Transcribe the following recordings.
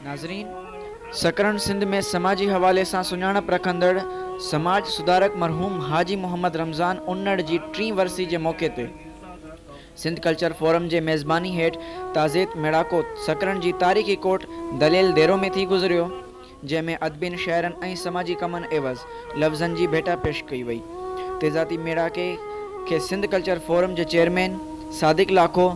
ناظرين سڪرنڊ سنڌ ۾ سماجي حوالي سان سڃاڻپ رکندڙ سماج سڌارڪ مرحوم حاجي محمد رمضان انڙ جي ٽين ورسي جي موقعي تي سنڌ ڪلچر فورم جي ميزباني هيٺ تعزيت ميڙاڪو سڪرنڊ جي تاريخي ڪوٽ دليل ديرو ۾ ٿي گذريو جنهن ۾ ادبين شاعرن ۽ سماجي ڪمن عيوض لفظن جي ڀيٽا پيش ڪئي وئي. تيزاتي ميڙاڪي کي سنڌ ڪلچر فورم جي chairman Sadiq Lakho,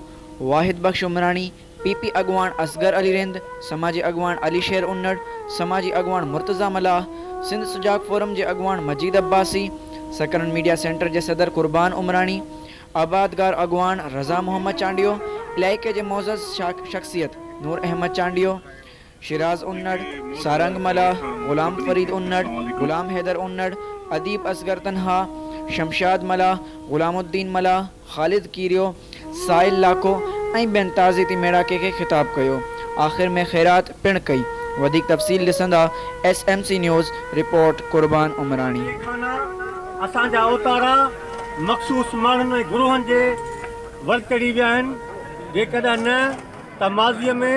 Wahid Bakhsh Umrani, P P اڳواڻ اصغر علي رند، سماجي اڳواڻ علي شير انڙ، سماجي اڳواڻ مرتضيٰ ملاح، سنڌ سجاڳ فورم جي اڳواڻ مجيد عباسي، سڪرنڊ ميڊيا سينٽر جي صدر قربان عمراڻي، آبادگار اڳواڻ رضا محمد چانڊيو، علائقي جي معزز شخصيت نور احمد چانڊيو، شيراز انڙ، سارنگ ملاح، غلام فريد انڙ، غلام حيدر انڙ، اديب اصغر تنها، شمشاد ملاح، غلام الدين ملاح، خالد ڪيريو، سائل لاکو ۽ ٻين تعزيتي ميڙاڪي کي خطاب ڪيو. آخر ۾ خيرات پڻ ڪئي. وڌيڪ تفصيل ڏسندا S M C news, report, Qurban Umrani. اهي خانا اسان جا اوتارا مخصوص ماڻهن ۽ گروهن جي ورچڙي ويا آهن، جيڪڏهن نه ته ماضيء ۾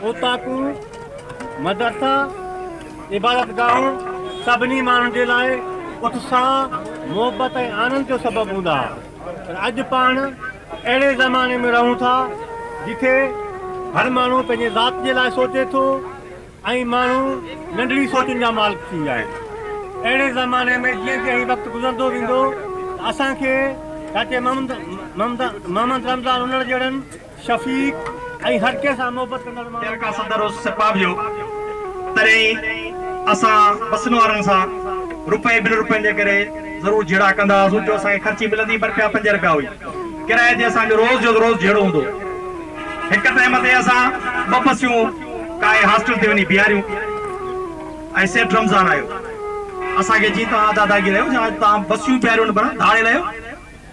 اوطاقون، مدرسا، عبادت گاهون سڀني ماڻهن جي لاء اتساهه، محبت ۽ آنند جو سبب هوندا ها پر اڄ پاڻ اهڙي زماني ۾ رهون ٿا جتي هر ماڻهو پنهنجي ذات جي لاء سوچي ٿو ۽ ماڻهو ننڍڙي سوچن جا مالڪ ٿي ويا آهن اهڙي زماني ۾ جيئن جيئن هي وقت گذرندو ويندو ته اسان کي چاچي محمد رمضان انڙ جهڙن شفيق ۽ هر ڪنهن سان محبت ڪندڙ ماڻهن جي ڪا صدر اس سپاهه بيو تڏهن ئي اسان بسن وارن سان روپئي ٻن روپين جي ڪري ضرور جهيڙا ڪندا هئاسون جو اسان کي خرچي ملندي به روپيا پنج روپيا هئي ڪرايي تي اسان جو روز جو روز جهيڙو هوندو هڪ ٽائيم تي اسان ٻه بسيون ڪاهي هاسٽل تي وڃي بيهاريون ۽ سيٺ رمضان آيو اسان کي چي توهان ادا داغي رهيو جا اڄ توهان بسيون بيهاريون نه پر ڌاڙيل آهيو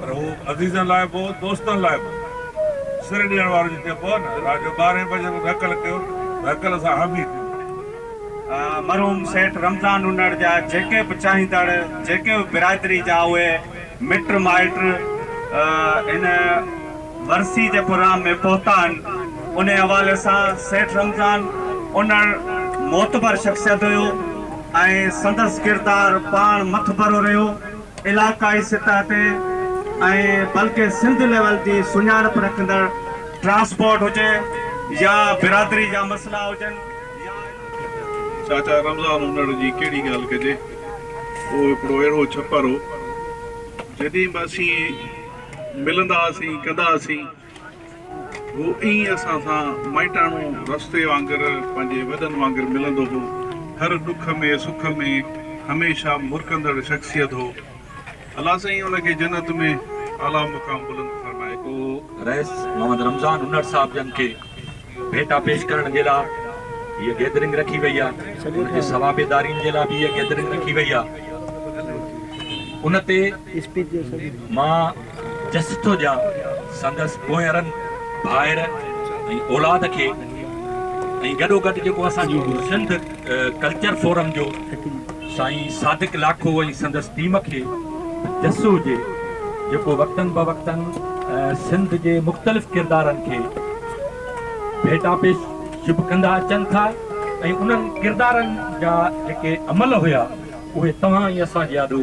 پر هو عزيزن لاء به هو، دوستن لاء به. سر ڏيڻ وارو جيئن چئبو آهي نه، رات جو ٻارهين بجي مون کي هڪل ڪيو ته هڪل سان هانڀي ٿيو. مرحوم سيٺ رمضان نونڙ جا جيڪي به چاهيندڙ، جيڪي به برادري جا اهي مٽ مائٽ هن ورسي جي پروگرام ۾ پهتا آهن، انهي حوالي سان سيٺ رمضان انڙ معتبر شخصيت هيو ۽ سندس ڪردار پاڻ مٿڀرو رهيو. علاقائي سطح تي ۽ بلڪه سنڌ ليول جي سڃاڻپ رکندڙ ٽرانسپورٽ هجي يا برادري جا مسئلا هجن يا چاچا رمضان انڙ جي ڪهڙي ڳالهه ڪجي اهو هڪڙو اهڙو ڇپر هو جڏهن به اسين ملندا هئاسين ڪندا هئاسين. هو ائين اسان سان مائٽاڻو رستي وانگر پنهنجي وڏن وانگر ملندو هو. هر ڏک ۾ سک ۾ هميشه مرڪندڙ شخصيت هو. الله سائين ان کي جنت ۾ اعليٰ مقام بلند فرمائي. پوء رئيس محمد رمضان انڙ صاحب جن کي. ڀيٽا پيش ڪرڻ جي لا هيء گيدرنگ رکي وئي آ ان جي سوا بي دارين جي لا به هيء گيدرنگ رکي وئي آ ان تي مان جسٽ ٿو ڏيان سندس پوئرن ڀائر ۽ اولاد کي ۽ گڏو گڏ جيڪو اسان جي سنڌ ڪلچر فورم جو سائين صادق لاکو ۽ سندس ٽيم کي جس هجي جيڪو وقتن بوقتن سنڌ جي مختلف ڪردارن کي ڀيٽا پيش شپ ڪندا اچن ٿا ۽ انهن ڪردارن جا جيڪي عمل هيا اهي توهان ۽ اسان جي آڏو